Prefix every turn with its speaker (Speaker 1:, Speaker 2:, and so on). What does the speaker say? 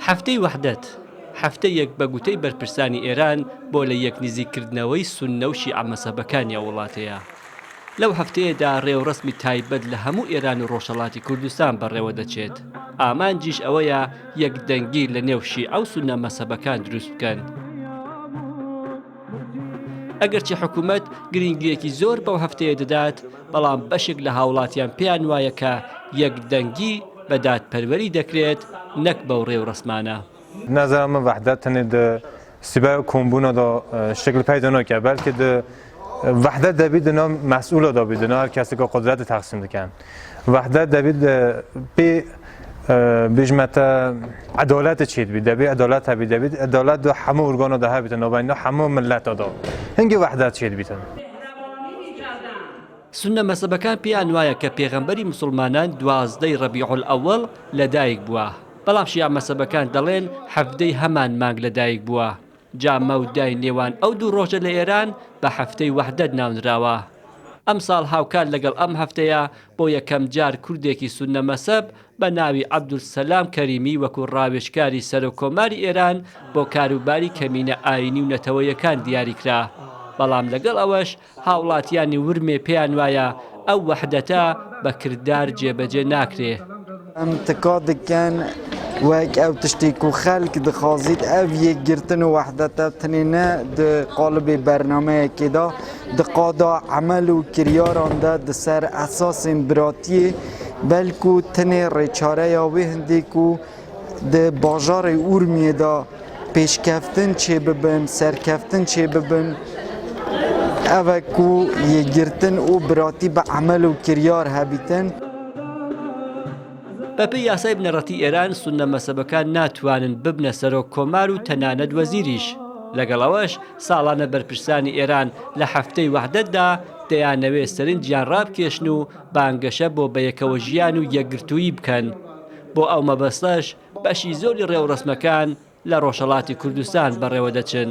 Speaker 1: هەفتەی وەحدەت، هەفتەیەک بە گوتەی بەرپرسانی ئێران بۆ لە یەک نزیک کردنەوەی سوننە و شیعە مەزهەبەکانی ئەو وڵاتەیە. لەو هەفتەیەدا رێوڕەسمی تایبەت لە هەموو ئێران و رۆژهەڵاتی کوردستان بەڕێوە دەچێت، ئامانجیش ئەوەیە یەکدەنگی لە نێو شیعە و سوننە مەزهەبەکان دروست بکەن. ئەگەرچی حکوومەت گرنگییەکی زۆر بەو هەفتەیە دەدات بەڵام بەشێک لە هاوڵاتیان پێیان وایە کە یەک دەنگی بە دادپەروەری دەکرێت نەک بەو ڕێوڕسمانە. نظر من
Speaker 2: وحدت تنه د سیبای و کۆمبوونە دۆ شتێک لە پای دەنۆکە بەلکە د وحدت دەبی دنۆ مەسئولە دۆبی دنۆ هەر کەسێکە قدرەت تەقسیم دکەن. وەحدە دەبێت پێ بژمەتە عدالت چیت بی دەبێ عدالت هەبی دەبێت عدالت دو هەموو ورگۆنە دە هەبێتە نۆبینە هەموو ملەتەدا هەنگی وەحدە چیت بیتن.
Speaker 1: سونە مەزهەبەکان پێیان وایە کە پێغەمبەری مسلمانان دوازدەی ڕەبیع الأول لەدایک بووە بەڵام شیعە مەزهەبەکان دەڵێن حەڤدەی هەمان مانگ لەدایک بووە جا مەودای نێوان ئەو دوو ڕۆژە لە ئێران بە هەفتەی وەحدەت ناونراوە. ئەمساڵ هاوکات لەگەڵ ئەم هەفتەیە بۆ یەکەم جار کوردێکی سوننە مەسەب بە ناوی عەبدولسەلام کەریمی وەکوو ڕاوێژکاری سەرۆک کۆماری ئێران بۆ کاروباری کەمینە ئایینی و نەتەوەیەکان دیاری کرا بەڵام لەگەڵ ئەوەش هاوڵاتیانی ورمێ پێیان وایە ئەو وەحدەتە بە کردار جێبەجێ ناکرێ. ئەم تکا
Speaker 3: دکەن وەک ئەو تشتێ کو خەلک دخوازیت، ئەو یەکگرتن و وەحدەتە تنێ نە د قالبێ بەرنامەیەکێدا، د قادا عەمەل و کریاراندا د سەر ئەساسێن براتیێ، بەلکو تنێ رێچارەیا وێ هندێ کو دە باژارەی ئورمیەدا پێشکەفتن چێ ببن، سەرکەفتن چێ ببن، ئەوە کو یەکگرتن و براتی بە عەمەل و کریار هەبیتن.
Speaker 1: بەپێی یاسای بنەڕەتی ئێران، سوننە مەزهەبەکان ناتوانن ببنە سەرۆک کۆمار و تەنانەت وەزیریش. لەگەڵ ئەوەش، ساڵانە بەرپرسانی ئێران لە هەفتەی وەحدەتدا دەیانەوێ سەرنجیان ڕابکێشن و بانگەشە بۆ بەیەکەوەژیان و یەکگرتوویی بکەن. بۆ ئەو مەبەستەش بەشی زۆری ڕێوڕەسمەکان لە ڕۆژهەڵاتی کوردستان بەڕێوەدەچن.